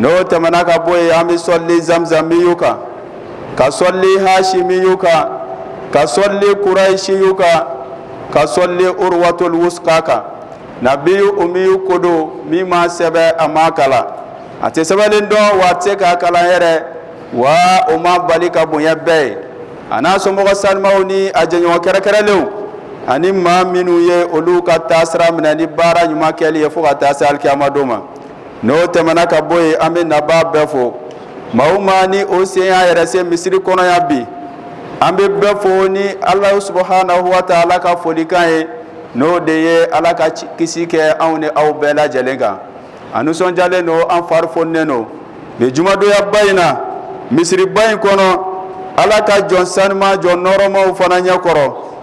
n'o tɛmɛna ka bɔ yen an bɛ sɔli zamzamiyu kan ka sɔli hashimiyu kan ka sɔli kuraishiyu kan ka sɔli urwatul wuska kan nabiyu umiyu ko don min ma sɛbɛ a ma kalan a tɛ sɛbɛlen dɔn wa a tɛ se k'a kalan yɛrɛ wa o m'a bali ka bonya bɛɛ ye a n'a somɔgɔ sanimaw ni a jɛɲɔgɔn kɛrɛnkɛrɛnlenw ani maa minnu ye olu ka taasira minɛ ni baara ɲuman kɛli ye fo ka taa se alikiyama don ma n'o tɛmɛna ka bɔ yen an bɛ nabaa bɛɛ fo maa o maa ni o sen y'a yɛrɛ se misiri kɔnɔ yan bi an bɛ bɛɛ fo ni ala subhanahu wa taala ka folikan ye n'o de ye ala ka kisi kɛ anw ni aw bɛɛ lajɛlen kan an nisɔnjalen don an fari foninen don bi jumadonyaba in na misiriba in kɔnɔ ala ka jɔn sanuma jɔn nɔɔrɔmaw fana ɲɛ kɔrɔ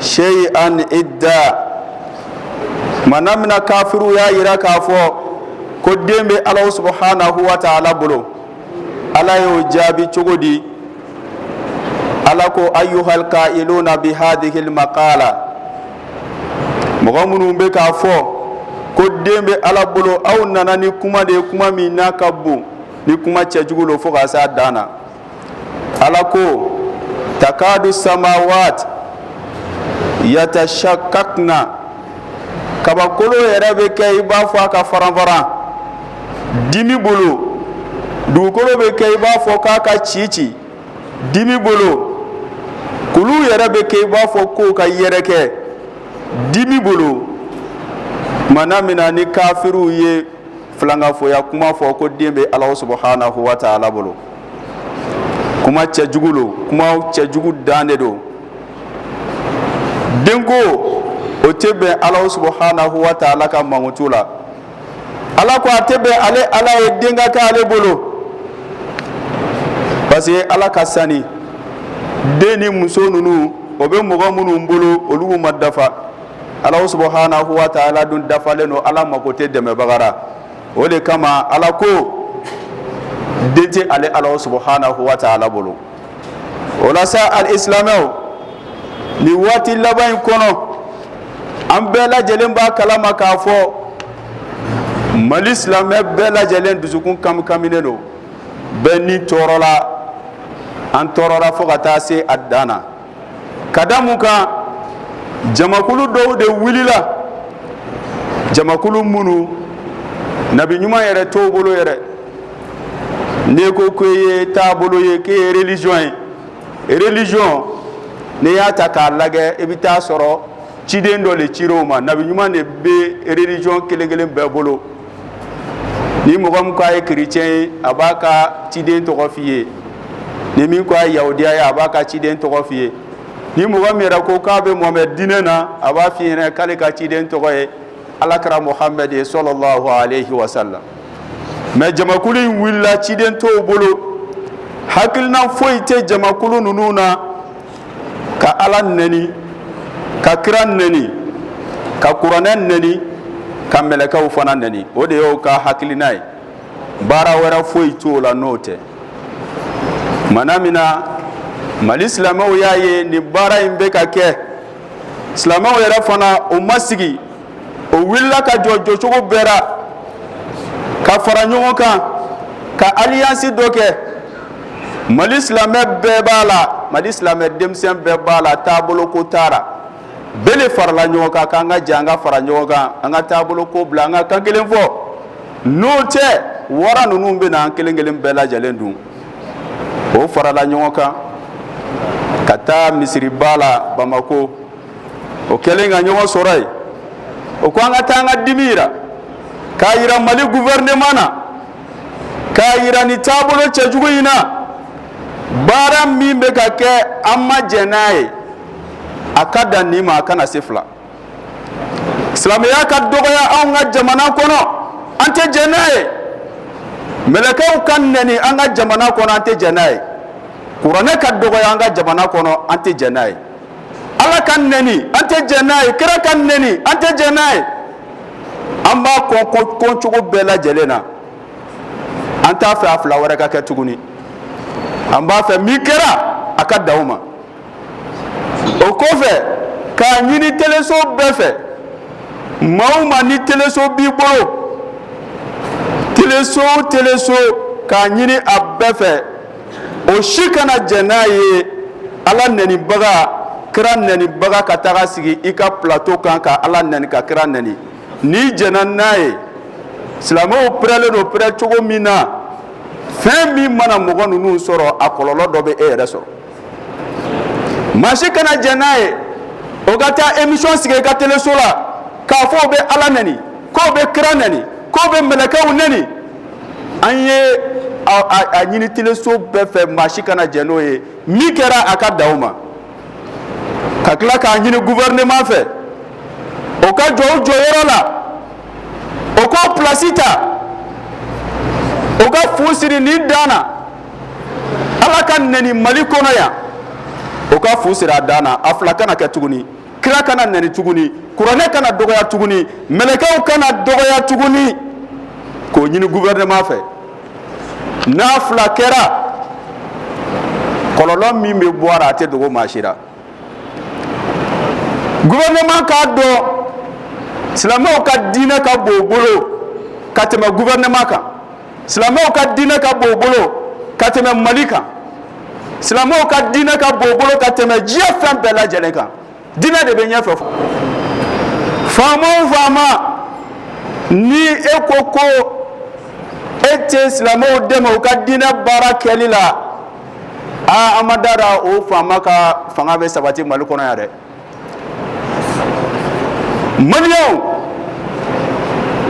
shayan idda maana min na kafiriw y'a jira k'a fɔ ko den bɛ ala subhanahu wa taala bolo ala y'o jaabi cogo di ala ko ayyuhal kailuna bi hazihil makala mɔgɔ minnu bɛ k'a fɔ ko den bɛ ala bolo aw nana ni kuma de kuma min n'a ka bon ni kuma cɛjugu don fo ka se a dan na ala ko takadu samawat yatashakkakna kabakolo yɛrɛ bɛ kɛ i b'a fɔ a ka faran faran dimi bolo dugukolo bɛ kɛ i b'a fɔ k'a ka ci ci dimi bolo kulu yɛrɛ bɛ kɛ i b'a fɔ k'o ka yɛrɛkɛ dimi bolo maana min na ni kafiriw ye filankafoya kuma fɔ ko den bɛ ala subhanahu wa taala bolo kuma cɛjugu don kuma cɛjugu dan de don denko o tɛ bɛn ala subhanahu wa taala ka mankutu la ala ko a tɛ bɛn ale ala ye den ka kɛ ale bolo parce que ala ka sani den ni muso ninnu o bɛ mɔgɔ minnu bolo olu ma dafa ala subhanahu wa taala dun dafalen don ala mako tɛ dɛmɛbaga ra o de kama ala ko den tɛ ale ala subhanahu wa taala bolo o la sa alisilamɛw nin waati laban in kɔnɔ an bɛɛ lajɛlen b'a kala ma k'a fɔ mali silamɛ bɛɛ lajɛlen dusukun kamikaminen don bɛɛ ni tɔɔrɔla an tɔɔrɔla fo ka taa se a dan na ka da mun kan jamakulu dɔw de wulila jamakulu minnu nabi ɲuman yɛrɛ t'o bolo yɛrɛ n'i ko k'e ye taabolo ye k'e ye religion ye religion n'i y'a ta k'a lagɛ i bɛ taa sɔrɔ ciden dɔ de cira o ma nabi ɲuman de bɛ religion kelen-kelen bɛɛ bolo ni mɔgɔ min ko a ye chrétien ye a b'a ka ciden tɔgɔ f' i ye ni min ko a ye yahudiya ye a b'a ka ciden tɔgɔ f' i ye ni mɔgɔ min yɛrɛ ko k'a bɛ muhamɛd diinɛ na a b'a f' i ɲɛna k'ale ka ciden tɔgɔ ye alakira muhamɛ de ye sallallahu alayhi wa sallam mais jamakulu in wulila ciden t'o bolo hakilina foyi tɛ jamakulu ninnu na ka ala nɛni ka kira nɛni ka kuranɛ nɛni ka mɛlɛkɛw fana nɛni o de y'o ka hakilina ye baara wɛrɛ foyi t'o la n'o tɛ mana min na mali silamɛw y'a ye nin baara in bɛ ka kɛ silamɛw yɛrɛ fana o ma sigi o wulila ka jɔ jɔcogo bɛɛ la ka fara ɲɔgɔn kan ka alliance dɔ kɛ mali silamɛ bɛɛ b'a la mali silamɛ denmisɛn bɛɛ b'a la taabolo ko t'a la bɛɛ de farala ɲɔgɔn kan k'an ka jɛn an ka fara ɲɔgɔn kan an ka taabolo ko bila an ka kan kelen fɔ n'o tɛ wara ninnu bɛ na an kelen kelen bɛɛ lajɛlen dun o farala ɲɔgɔn kan ka taa misiriba la bamakɔ o kɛlen ka ɲɔgɔn sɔrɔ yen o ko an ka taa an ka dimi yira k'a yira mali gouvernement na k'a yira nin taabolo cɛjugu in na baara min bɛ ka kɛ an ma jɛn n'a ye a ka dan nin ma a kana se fila silamɛya ka dɔgɔya anw ka jamana kɔnɔ an tɛ jɛn n'a ye mɛlɛkɛw ka nɛni an ka jamana kɔnɔ an tɛ jɛn n'a ye kuranɛ ka dɔgɔya an ka jamana kɔnɔ an tɛ jɛn n'a ye ala ka nɛni an tɛ jɛn n'a ye kira ka nɛni an tɛ jɛn n'a ye an b'a kɔn kɔncogo bɛɛ lajɛlen na an t'a fɛ a fila wɛrɛ ka kɛ tuguni an b'a fɛ min kɛra a ka dan o ma o kɔfɛ k'a ɲini teleso bɛɛ fɛ maa o maa ni teleso b'i bolo teleso o teleso k'a ɲini a bɛɛ fɛ o si kana jɛn n'a ye Ala nɛnibaga, kira nɛnibaga ka taga sigi i ka plateau kan ka Ala nɛni ka kira nɛni n'i jɛnna n'a ye silamɛw pɛrɛlen don pɛrɛ cogo min na fɛn min mana mɔgɔ ninnu sɔrɔ a kɔlɔlɔ dɔ bɛ e yɛrɛ sɔrɔ maa si kana jɛn n'a ye o ka taa émission sigi i ka teleso la k'a fɔ o bɛ Ala nɛni k'o bɛ kira nɛni k'o bɛ mɛlɛkɛw nɛni an ye a ɲini teleso bɛɛ fɛ maa si kana jɛn n'o ye min kɛra a ka dan o ma ka tila k'a ɲini gouvernement fɛ o ka jɔ o jɔyɔrɔ la o k'o plasi ta o ka fu siri nin dan na ala ka nɛni mali kɔnɔ yan o ka fu siri a dan na a fila kana kɛ tuguni kira kana nɛni tuguni kuranɛ kana dɔgɔya tuguni mɛlɛkɛw kana dɔgɔya tuguni k'o ɲini gouvernement fɛ n'a fila kɛra kɔlɔlɔ min bɛ bɔ a la a tɛ dogo maa si la gouvernement k'a dɔn silamɛw ka diinɛ ka bon u bolo ka tɛmɛ gouvernement kan silamɛw ka diinɛ ka bon u bolo ka tɛmɛ Mali kan silamɛw ka diinɛ ka bon u bolo ka tɛmɛ diɲɛ fɛn bɛɛ lajɛlen kan diinɛ de bɛ ɲɛfɛ faama o faama ni e ko ko e tɛ silamɛw dɛmɛ u ka diinɛ baara kɛli la aa an ma da la o faama ka fanga bɛ sabati Mali kɔnɔ yan dɛ Maliens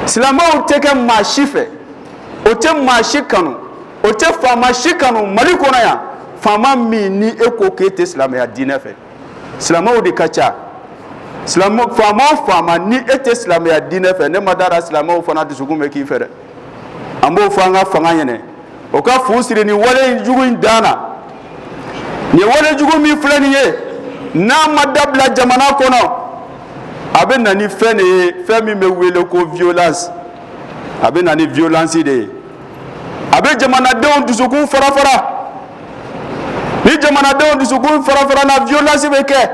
silamɛw tɛ kɛ maa si fɛ o tɛ maa si kanu o tɛ faama si kanu Mali kɔnɔ yan faama min ni e ko k'e tɛ silamɛya diinɛ fɛ silamɛw de ka ca faama o faama ni e tɛ silamɛya diinɛ fɛ ne ma d'a la silamɛw fana dusukun bɛ k'i fɛ dɛ an b'o fɔ an ka fanga ɲɛ na o ka fu siri ni walejugu in dan na ni walejugu min filɛ nin ye n'a ma dabila jamana kɔnɔ a bɛ na ni fɛn de ye fɛn min bɛ wele ko violence a bɛ na ni violence de ye a bɛ jamanadenw dusukun fara fara ni jamanadenw dusukun fara fara na violence bɛ kɛ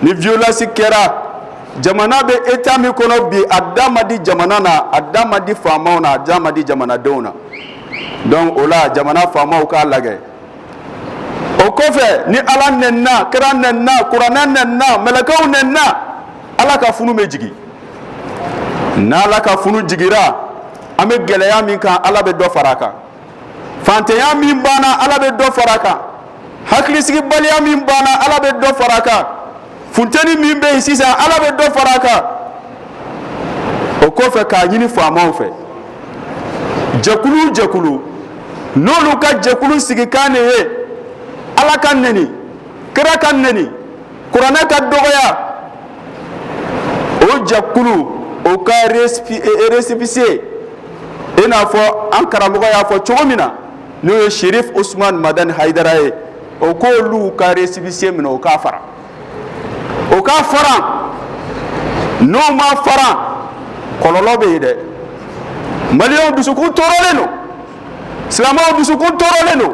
ni violence kɛra Jamana bɛ état min kɔnɔ bi a da ma di jamana na a da ma di faamaw na a da ma di jamanadenw na donc o la jamana faamaw k'a lajɛ o kɔfɛ ni ala nɛnina kira nɛnina kuranɛ nɛnina mɛlɛkɛw nɛnina ala ka funu bɛ jigin n' ala ka funu jiginra an bɛ gɛlɛya min kan ala bɛ dɔ fara a kan fantanya min b'an na ala bɛ dɔ fara a kan hakilisigibaliya min b'an na ala bɛ dɔ fara a kan funteni min bɛ yen sisan ala bɛ dɔ fara a kan o kɔfɛ k'a ɲini faamaw fɛ jɛkulu jɛkulu n'olu ka jɛkulu sigikan de ye ala ka nɛni kira ka nɛni kuranɛ ka dɔgɔya o jɛkulu o ka récépissé i n'a fɔ an karamɔgɔ y'a fɔ cogo min na n'o ye Sherif Usman Madani Hayidara ye o k'olu ka récépissé minɛ o k'a fara o k'a fara n'o ma fara kɔlɔlɔ bɛ yen dɛ Maliens dusukun tɔɔrɔlen don silamɛw dusukun tɔɔrɔlen don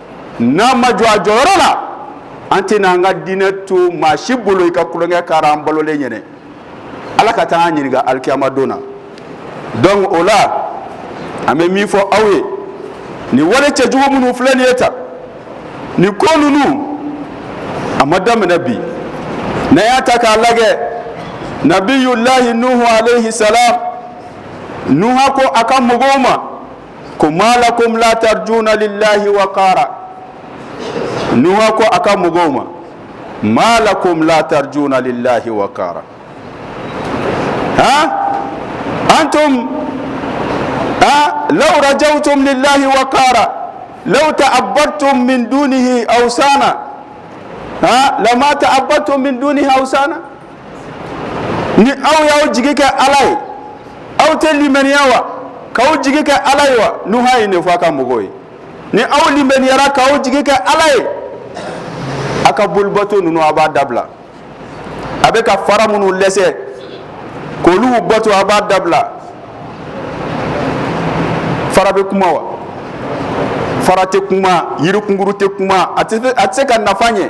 n'an ma jɔ a jɔyɔrɔ la an tɛna an ka diinɛ to maa si bolo i ka tulonkɛ k'a ra an balolen ɲɛna ala ka taa an ɲininka alikiyamadon na donc o la an bɛ min fɔ aw ye nin wale cɛjugu minnu filɛ nin ye tan nin ko ninnu a ma daminɛ bi n'a y'a ta k'a lajɛ nabiyulahi nuhu aleyi salamu nuha ko a ka mɔgɔw ma ko maa la ko ta jli layi wa n ko a ka mɔgɔw ma maa la ko ta jli layi wa a an tun aa lajɛw tun ni layi wa la ta a ba tun min dun aw san na a la ta a ba tun min dun aw san na ni aw y'aw jigi kɛ ala ye aw tɛ limaniya wa k'aw jigi kɛ ala ye wa nuha ye nin fɔ a ka mɔgɔw ye ni aw limaniyara k'aw jigi kɛ ala ye aw ka bolibato ninnu a b'a dabila a bɛ ka fara minnu lɛsɛ k'olu bato a b'a dabila fara bɛ kuma wa fara tɛ kuma yirikunkuru tɛ kuma a tɛ se ka nafa ɲɛ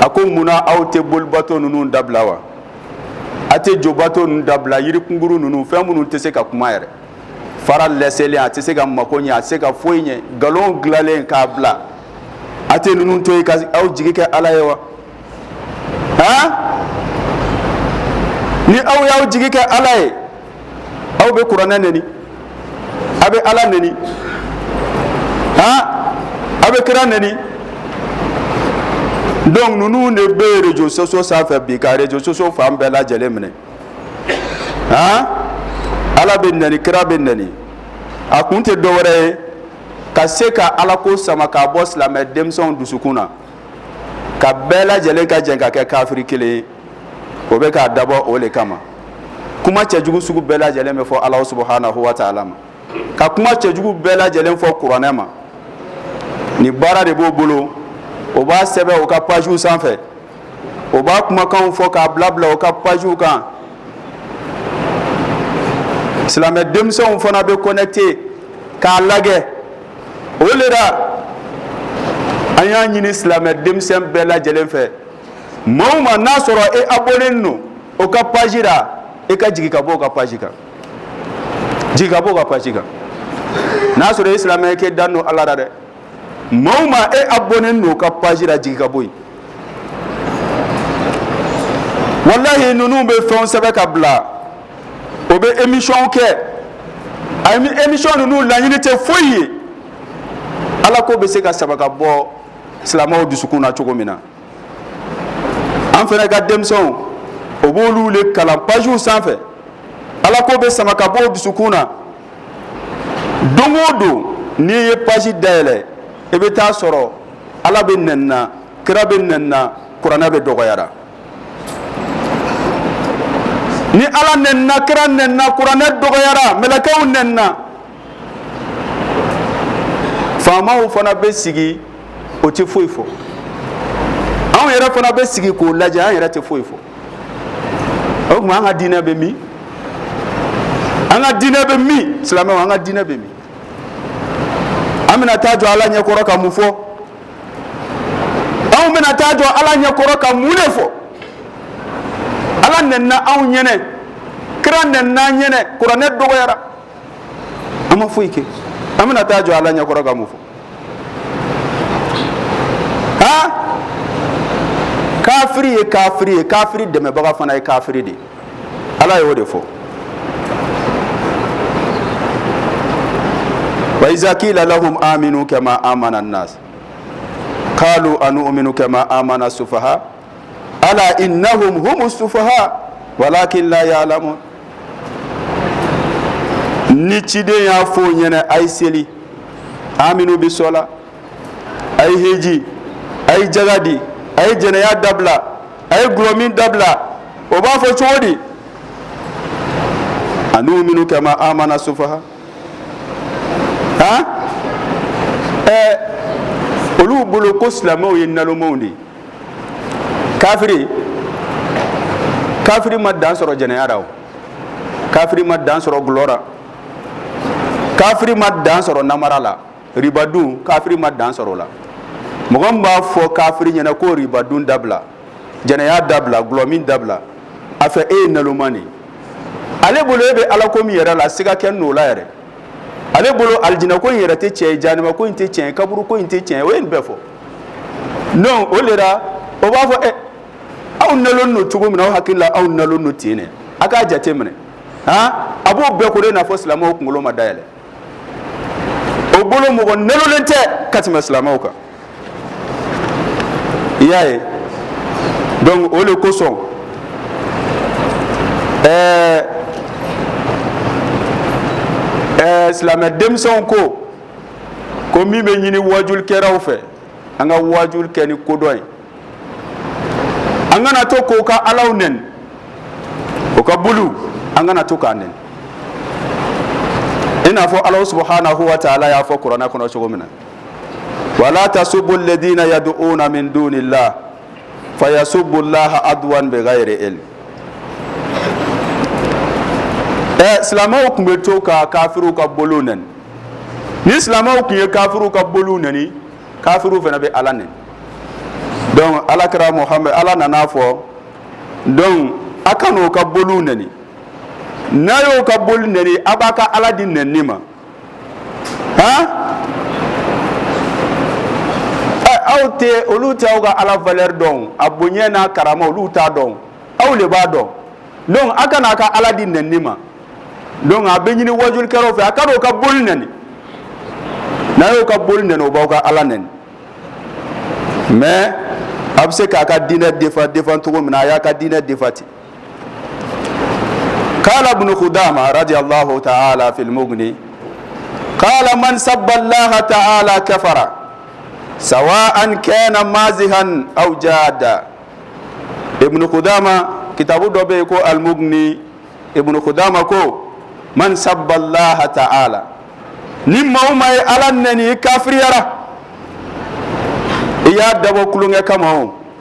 a ko mun na aw tɛ bolibato ninnu dabila wa a tɛ jobato ninnu dabila yirikunkuru ninnu fɛn minnu tɛ se ka kuma yɛrɛ fara lɛsɛlen a tɛ se ka mako ɲɛ a tɛ se ka foyi ɲɛ nkalon dilanlen k'a bila a tɛ ninnu to yen ka aw jigi kɛ ala ye wa a ni aw y'aw jigi kɛ ala ye aw bɛ kuranɛ neni aw bɛ ala neni han aw bɛ kira neni donc ninnu de bɛ réseaux sociaux sanfɛ bi ka réseaux sociaux fan bɛɛ lajɛlen minɛ han ala bɛ neni kira bɛ neni a kun tɛ dɔwɛrɛ ye ka se ka alako sama k'a bɔ silamɛ denmisɛnw dusukun na ka bɛɛ lajɛlen ka jɛn ka kɛ kafiri kelen ye o bɛ k'a dabɔ o de kama kuma cɛjugu sugu bɛɛ lajɛlen bɛ fɔ alahu subuhanahu wataala ma ka kuma cɛjugu bɛɛ lajɛlen fɔ kuranɛ ma nin baara de b'o bolo o b'a sɛbɛn o ka pazw sanfɛ o b'a kumakan fɔ k'a bila bila o ka pazw kan silamɛ denmisɛnw fana bɛ connecté k'a lajɛ o de la an y'a ɲini silamɛ denmisɛn bɛɛ lajɛlen fɛ Maa o maa n'a sɔrɔ e abonné don o ka paji la e ka jigin ka bɔ o ka paji kan jigin ka bɔ o ka paji kan n'a sɔrɔ e silamɛ k'e dalen don ala la dɛ maa o maa e abonné don o ka paji la jigin ka bɔ yen walayi ninnu bɛ fɛn sɛbɛn ka bila o bɛ émission kɛ a émission ninnu laɲini tɛ foyi ye ala ko bɛ se ka saba ka bɔ silamɛw dusukun na cogo min na an fana ka denmisɛnw o b'olu de kalan pajiw sanfɛ ala ko bɛ sama ka bɔ dusukun na don o don n'i ye paji dayɛlɛ i bɛ taa sɔrɔ ala bɛ nɛni na kira bɛ nɛni na kuranɛ bɛ dɔgɔyara ni ala nɛnna kira nɛnna kuranɛ dɔgɔyara mɛlɛkɛw nɛnna faamaw fana bɛ sigi o tɛ foyi fɔ anw yɛrɛ fana bɛ sigi k'o lajɛ an yɛrɛ tɛ foyi fɔ o tuma an ka diinɛ bɛ min an ka diinɛ bɛ min silamɛw an ka diinɛ bɛ min an bɛna taa jɔ ala ɲɛkɔrɔ ka mun fɔ anw bɛna taa jɔ ala ɲɛkɔrɔ ka mun de fɔ ala nɛnna anw ɲɛnɛ kira nɛnna an ɲɛnɛ kuranɛ dɔgɔyara an ma foyi kɛ an bɛna taa jɔ ala ɲɛkɔrɔ ka mun fɔ aa kafiri ye kafiri ye kafiri dɛmɛbaga fana ye kafiri de ye ala y'o de fɔ wa iza kila lahum aminu kama amana nas qalu anu'minu kama amana sufaha ala innahum humu sufaha walakin la ya'lamun ni ciden y'a fɔ o ɲɛnɛ a ye seli aminu bi sola a ye heji a ye jaga di a ye jɛnɛya dabila a ye gulɔ min dabila o b'a fɔ cogo di anu'minu kama amana sufaha a ɛɛ olu bolo ko silamɛw ye nalomanw de ye kafiri kafiri ma dan sɔrɔ jɛnɛya la o kafiri ma dan sɔrɔ gulɔ la kafiri ma dan sɔrɔ namara la ribadun kafiri ma dan sɔrɔ o la mɔgɔ min b'a fɔ kafiri ɲɛna ko ribadun dabila jɛnɛya dabila gulɔ min dabila a fɛ e ye naloman de ye ale bolo e bɛ ala ko min yɛrɛ la siga kɛ n'o la yɛrɛ ale bolo alijinɛ ko in yɛrɛ tɛ tiɲɛ ye janima ko in tɛ tiɲɛ ye kaburu ko in tɛ tiɲɛ ye o ye nin bɛɛ fɔ donc o de la o b'a fɔ e aw nalonnen don cogo min aw hakili la aw nalonnen don ten dɛ aw k'a jate minɛ a b'o bɛɛ ko i n'a fɔ silamɛw kunkolo ma dayɛlɛ o bolo mɔgɔ nalonnen tɛ ka tɛmɛ silamɛw kan i y'a ye donc o de kosɔn ɛɛ ɛɛ silamɛ denmisɛnw ko ko min bɛ ɲini wajulikɛlaw fɛ an ka wajuli kɛ ni kodɔn ye an kana to k'o ka alaw nɛni o ka boliw an kana to k'a nɛni i n'a fɔ ala subahanahu wa taala y'a fɔ kuranɛ kɔnɔ cogo min na wala tasubbu ladiina yad'uuna min duuni laahi faso bolilaha a dugwa bɛ ka yɛrɛ e ɛ silamɛw tun bɛ to ka kafiw ka bolo n ni silamɛw tun ye kafiw ka bolo n kafiw fana bɛ ala n dɔnku ala kɛra mɔgɔ ala nana fɔ dɔnku a ka n'o ka bolo n n'a y'o ka boli n aw b'a ka ala di n ne ma aw tɛ olu tɛ aw ka ala valeur dɔn a bonya n'a karama olu t'a dɔn aw de b'a dɔn donc aw kan'a ka ala di nɛni ma donc a bɛ ɲini wajulikɛlaw fɛ a kan'u ka boli nɛni n'a y'o ka boli nɛni u b'aw ka ala nɛni mais a bɛ se k'a ka diinɛ défendre défendre cogo min na a y'a ka diinɛ défendre ten kaala ibunu kudaama radiya laahu taala fili mugni kaala man sabba laaha taala kafara sawaa'an kaana maazihan aw jaadan ibunu kudaama kitabu dɔ bɛ yen ko alimugni ibunu kudaama ko man sabba laaha taala ni maa o maa ye ala nɛni i kafiriyara i y'a dabɔ tulonkɛ kama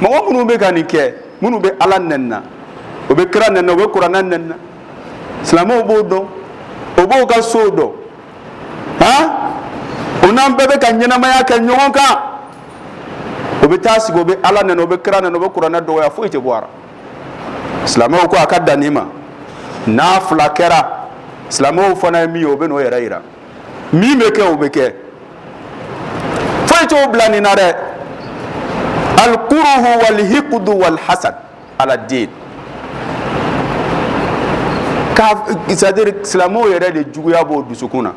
mɔgɔ minnu bɛ ka nin kɛ minnu bɛ ala nɛni na o bɛ kira nɛni na o bɛ kuranɛ nɛni na silamɛw b'o dɔn o b'o ka sow dɔn han o n'an bɛɛ bɛ ka ɲɛnamaya kɛ ɲɔgɔn kan o bɛ taa sigi o bɛ ala nɛni o bɛ kira nɛni o bɛ kuranɛ dɔgɔya foyi tɛ bɔ a la silamɛw ko a ka dan nin ma n'a fila kɛra silamɛw fana ye min ye o bɛ n'o yɛrɛ yira min bɛ kɛ o bɛ kɛ foyi t'o bila nin na dɛ alikuruhu walihikudu walihasad ala diini ka c'est-à-dire silamɛw yɛrɛ de juguya b'o dusukun na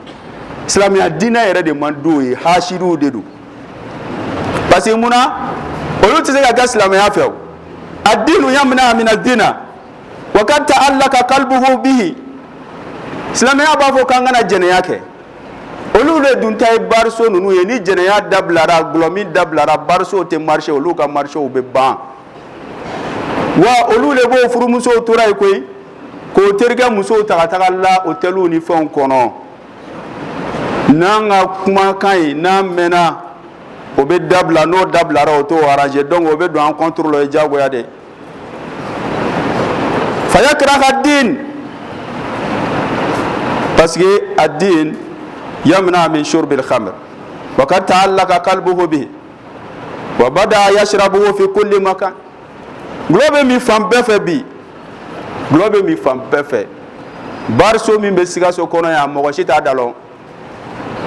silamɛya diinɛ yɛrɛ de man d'o ye haasidiw de don parce que mun na olu tɛ se ka kɛ silamɛya fɛ o adiinu yamna'u mina zinaa wa qad ta'allaqa qalbuhu bihi silamɛya b'a fɔ k'an kana jɛnɛya kɛ olu de dun ta ye barso ninnu ye ni jɛnɛya dabilara glɔ min dabilara barso tɛ marché olu ka marchéw bɛ ban wa olu de b'o furumusow tora ye koyi k'o terikɛ musow ta taga la otɛliw ni fɛnw kɔnɔ n'an ka kumakan ye n'a mɛnna o bɛ dabila n'o dabilara o t'o arrangé donc o bɛ don an contre la ye diyagoya de fa kɛra ka den pa a den ya min min suru bɛ kama wa ka taa la ka kali bɔ bɛ wa ba da a ya sira bɔ fɛ ko den ma kan dɔlɔ bɛ min fan bɛɛ fɛ bi dɔlɔ bɛ min fan bɛɛ fɛ baso min bɛ sikaso kɔnɔ yan mɔgɔ si t'a da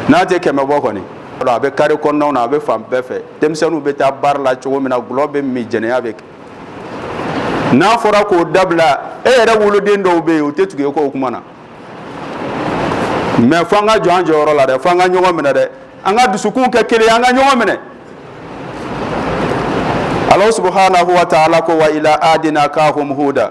n'a tɛ kɛmɛ bɔ kɔni a bɛ kare kɔnɔw na a bɛ fan bɛɛ fɛ denmisɛnninw bɛ taa bar la cogo min na gulɔ bɛ min jɛnɛya bɛ kɛ n'a fɔra k'o dabila e yɛrɛ woloden dɔw bɛ yen u tɛ tugu e ko o kuma na mais fo an ka jɔ an jɔyɔrɔ la dɛ fo an ka ɲɔgɔn minɛ dɛ an ka dusukun kɛ kelen an ka ɲɔgɔn minɛ Allahu subhanahu wa ta'ala ko wa ila adin akhahum Huda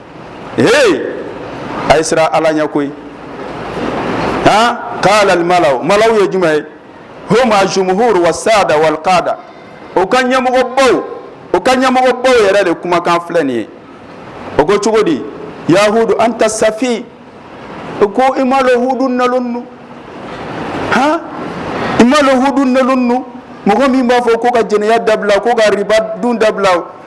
ee a ye siran ala ɲɛ koyi han qalal mala'u malaw ye jumɛn ye hum aljumhur wassada walqada o ka ɲɛmɔgɔbaw o ka ɲɛmɔgɔbaw yɛrɛ de kumakan filɛ nin ye o ko cogo di ya hudu anta safih o ko i m'a dɔn hudu nalon don han i m'a dɔn hudu nalon don mɔgɔ min b'a fɔ ko ka jɛnɛya dabila ko ka riba dun dabila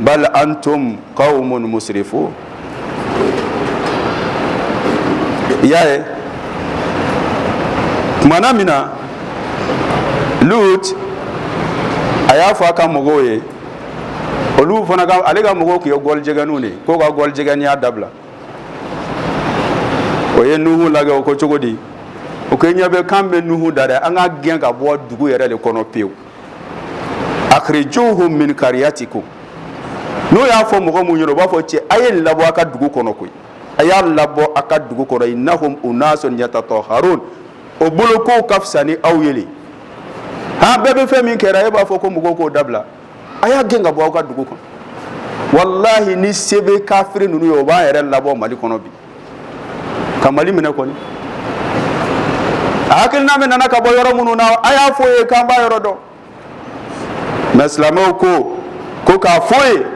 bal antum qawmun musrifun i y'a ye tumana min na Lut a y'a fɔ a ka mɔgɔw ye olu fana ka ale ka mɔgɔw tun ye gɔlijɛgɛniw de ye k'o ka gɔlijɛgɛniya dabila o ye Nuhu lagɛ o ko cogo di u ko i ɲɛ bɛ k'an bɛ Nuhu da dɛ an k'a gɛn ka bɔ dugu yɛrɛ de kɔnɔ pewu akhrijuhum min qaryatikum n'o y'a fɔ mɔgɔ min u b'a fɔ cɛ a y'a labɔ a ka dugu kɔnɔ koyi a y'a labɔ a ka dugu kɔnɔ innahum unasun yatatahharun o bolo k'o ka fisa ni aw ye de han bɛɛ bɛ fɛn min kɛra e b'a fɔ ko mɔgɔw k'o dabila a y'a gɛn ka bɔ aw ka dugu kɔnɔ walahi ni se bɛ kafiri ninnu ye o b'a yɛrɛ labɔ mali kɔnɔ bi ka mali minɛ kɔni a hakilina min nana ka bɔ yɔrɔ minnu na a y'a fɔ ye k'an b'a yɔrɔ dɔn mais silamɛw ko ko k'a fɔ ye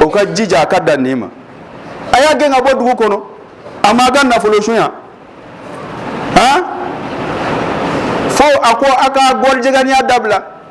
o ka jija a ka dan nin ma a y'a gɛn ka bɔ dugu kɔnɔ a m'a ka nafolo sunya han fo a ko a ka gɔrijɛganiya dabila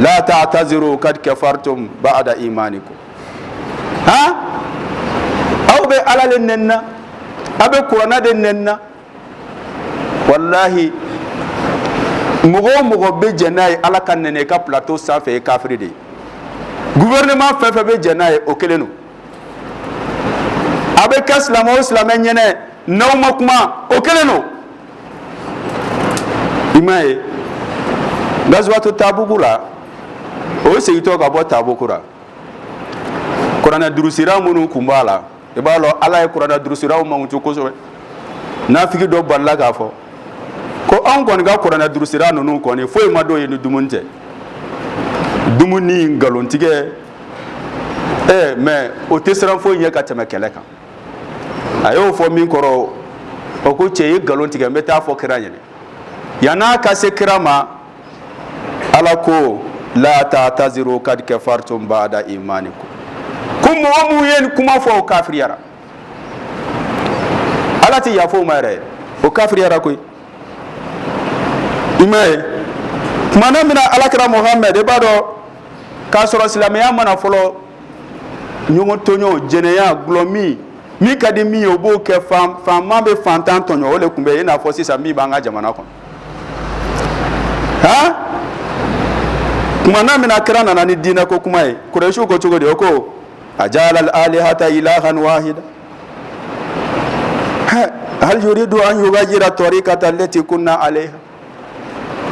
la ta'taziru kad kafartum ba'da imanikum hɔn aw bɛ ala de nɛni na aw bɛ kuranɛ de nɛni na walahi mɔgɔ o mɔgɔ bɛ jɛn n'a ye ala ka nɛni ka plateau sanfɛ ye kafiri de ye gouvernement fɛn fɛn bɛ jɛn n'a ye o kelen don a bɛ kɛ silamɛ o silamɛ ɲɛnɛ n'aw ma kuma o kelen don i m'a ye gazuwato tabugu la o segintɔ ka bɔ tabugu la kuranɛ durusira minnu tun b'a la i b'a dɔn ala ye kuranɛ durusiraw mankutu kosɛbɛ nafigi dɔ balala k'a fɔ ko anw kɔni ka kuranɛ durusira ninnu kɔni foyi man d'u ye ni dumuni tɛ dumuni nkalontigɛ ɛɛ mais o tɛ siran foyi ɲɛ ka tɛmɛ kɛlɛ kan a y'o fɔ min kɔrɔ o ko cɛ ye nkalon tigɛ n bɛ taa fɔ kira ɲɛnɛ yann'a ka se kira ma ala ko la ta'taziru kad kafartum ba'da imanikum ko mɔgɔ minnu ye nin kuma fɔ o kafiriyara ala tɛ yafa o ma yɛrɛ o kafiriyara koyi i m'a ye kuma na min na alakira muhamɛdi i b'a dɔn k'a sɔrɔ silamɛya ma na fɔlɔ ɲɔgɔn tɔɲɔ jɛnɛya gulɔmin min ka di min ye o b'o kɛ faama bɛ fantan tɔɲɔ o de tun bɛ yen i n'a fɔ sisan min b'an ka jamana kɔnɔ han kuma na min na kira nana ni diinɛ ko kuma ye kurɛsiw ko cogo di o ko ajaala alalihata ilahan wahida hal yuridu an yugayira tariqata allati kunna alayha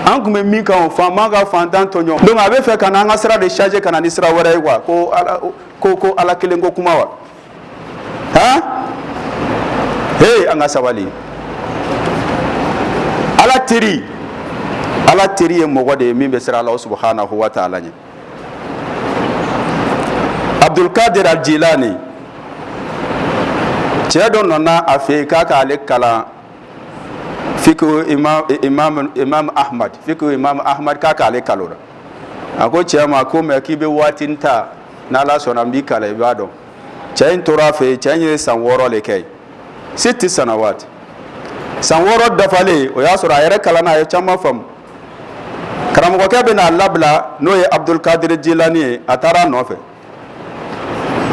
an tun bɛ min kan o faama ka fantan tɔɲɔ donc a bɛ fɛ ka na an ka sira de changer ka na ni sira wɛrɛ ye quoi ko ala kelen ko kuma wa han hey an ka sabali ala teri ala teri ye mɔgɔ de ye min bɛ siran ala subhanahu wa ta'ala ɲɛ abdulkadir aljilani cɛ dɔ nana a fɛ yen k'a k'ale kalan fiqh imam imam imam ahmad fiqh imam ahmad k'a k'ale kalan o la a ko cɛ ma ko mais k'i bɛ waatinin ta n'ala sɔnna n b'i kalan i b'a dɔn cɛ in tora a fɛ yen cɛ in ye san wɔɔrɔ de kɛ yen sitta sanawati san wɔɔrɔ dafalen o y'a sɔrɔ a yɛrɛ kalanna a ye caman faamu karamɔgɔkɛ bɛn'a labila n'o ye abudulkadiri jilani ye a taara a nɔfɛ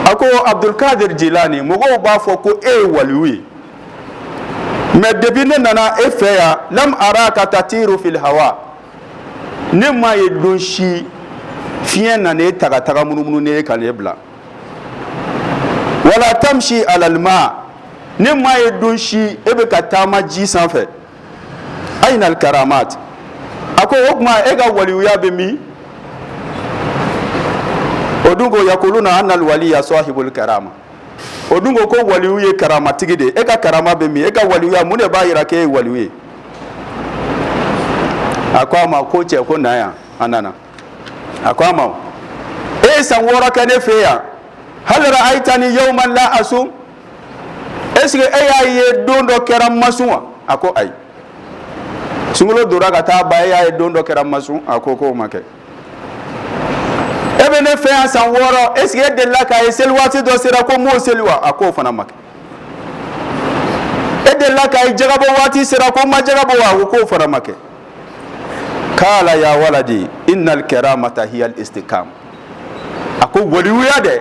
a ko abudulkadiri jilani mɔgɔw b'a fɔ ko e ye waliyu ye mais depuis ne nana e fɛ yan lam araka tatiru fil hawa ne m'a ye don si fiɲɛ nana e ta ka taga munumunu n'e ye ka n'e bila wala tamsi alal ma ne m'a ye don si e bɛ ka taama ji sanfɛ ayna al karamat a ko o tuma e ka waliyuya bɛ min o dun ko yakuluna anna al waliya sahibul karama o dun ko ko waliw ye karamatigi de e ka karama bɛ min e ka waliya mun de b'a jira k'e ye wali ye a ko a ma ko cɛ ko na yan a nana a ko a ma e ye san wɔɔrɔ kɛ ne fɛ yan hal ra'aytani yawman la asum est ce que e y'a ye don dɔ kɛra n ma sun wa a ko ayi sunkalo donna ka taa ba e y'a ye don dɔ kɛra n ma sun a ko k'o ma kɛ e bɛ ne fɛ yan san wɔɔrɔ est ce que e delila k'a ye seli waati dɔ sera ko n m'o seli wa a k'o fana ma kɛ e delila k'a ye jagabɔ waati sera ko n ma jaga bɔ wa a ko k'o fana ma kɛ kala ya waladi innal karamata hiya al istiqam a ko waliyuya dɛ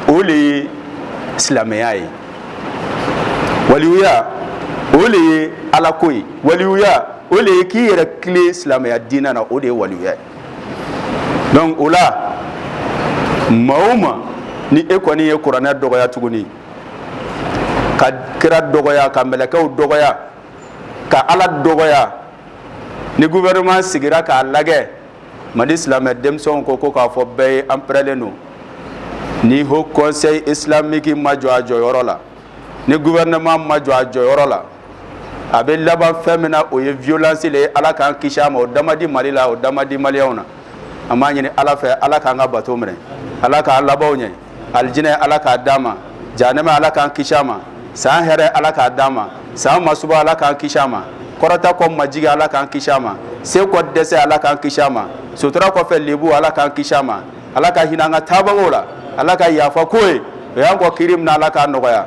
o le ye silamɛya ye waliyuya o le ye alako ye waliyuya o le ye k'i yɛrɛ tilen silamɛya diinɛ na o de ye waliyuya ye donc o la maa o maa ni e kɔni ye kuranɛ dɔgɔya tuguni ka kira dɔgɔya ka mɛlɛkɛw dɔgɔya ka ala dɔgɔya ni gouvernement sigira k'a lajɛ mali silamɛ denmisɛnw ko ko k'a fɔ bɛɛ ye an pɛrɛlen don ni haut conseil islamique ma jɔ a jɔyɔrɔ la ni gouvernement ma jɔ a jɔyɔrɔ la a bɛ laban fɛn min na o ye violence le ye ala k'an kisi a ma o da man di mali la o da man di maliyɛnw na an b'a ɲini ala fɛ ala k'an ka bato minɛ ala k'an labanw ɲɛ alijinɛ ala k'a d'a ma jahanama ala k'an kisi a ma san hɛrɛ ala k'a d'a ma san masiba ala k'an kisi a ma kɔrɔta kɔ majigi ala k'an kisi a ma se kɔ dɛsɛ ala k'an kisi a ma sutura kɔfɛ lebu ala k'an kisi a ma ala ka hinɛ an ka taabagaw la ala ka yafa k'u ye u y'an kɔn kiri min na ala k'a nɔgɔya